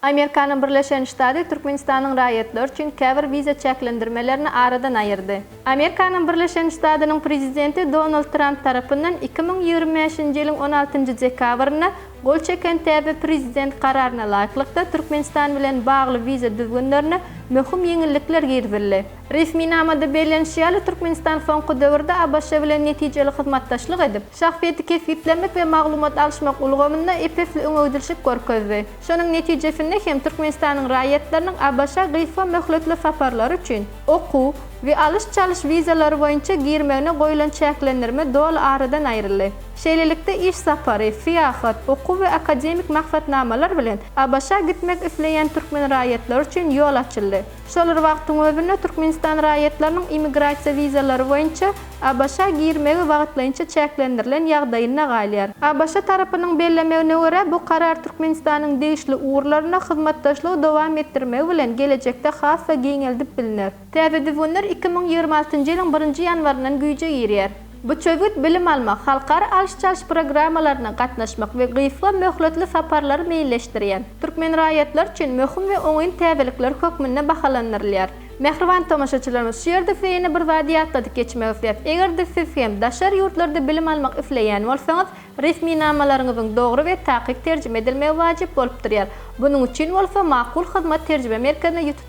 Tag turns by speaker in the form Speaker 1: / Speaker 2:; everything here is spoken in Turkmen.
Speaker 1: Amerikanyň Birleşen Ştady Türkmenistanyň raýatlary üçin käbir wiza çäklendirmelerini aradan aýyrdy. Amerikanyň Birleşen Ştadynyň Prezidenti Donald Tramp tarapyndan iki müň ýigrimi bäşinji ýylyň on altynjy dekabrynda gol çeken täze Prezident kararyna laýyklykda Türkmenistan bilen bagly wiza düzgünlerine möhüm ýeňillikler girizildi. Resminamada bellenişi ýaly, Türkmenistan soňky döwürde ABŞ bilen netijeli hyzmatdaşlyk edip, şahsyýeti kesgitlemek we maglumat alyşmak ulgamynda ep-esli öňegidilşik görkezdi. Şonuň netijesinde hem Türkmenistanyň raýatlarynyň ABŞ-a gysga möhletli saparlary üçin okuw we alyş-çalyş wizalary boýunça girmegine goýulan çäklendirme doly aradan aýryldy. Şeýlelikde, iş sapary, syýahat, okuw we akademik maksatnamalar bilen ABŞ-a gitmek isleýän türkmen raýatlary üçin ýol açyldy. Şol bir wagtyň özünde Türkmenistan raýatlarynyň immigrasiýa wizalary boýunça ABŞ-a girmegi wagtlaýynça çäklendirilen ýagdaýynda galýar. ABŞ tarapynyň bellemegine görä, bu karar Türkmenistanyň degişli ugurlarynda hyzmatdaşlygy dowam etdirmegi bilen gelejekde has-da giňeldip bilner. Täze düzgünler iki müň ýigrimi altynjy ýylyň birinji ýanwaryndan güýje girýär. Bu çözgüt bilim almak, halkara alyş-çalyş programmalaryna gatnaşmak we gysga möhletli saparlary meýilleşdirýän türkmen raýatlary üçin möhüm we oňyn täzelikler hökmünde bahalandyrylýar. Mähriban tomaşaçylarymyz, şu ýerde size ýene bir zady ýatladyp geçmek isleýäs, eger-de siz hem daşary ýurtlarda bilim almak isleýän bolsaňyz, resminamalaryňyzyň dogry we takyk terjime edilmegi wajyp bolup durýar. Bunuň üçin bolsa Makul Hyzmat terjime merkezine ýüz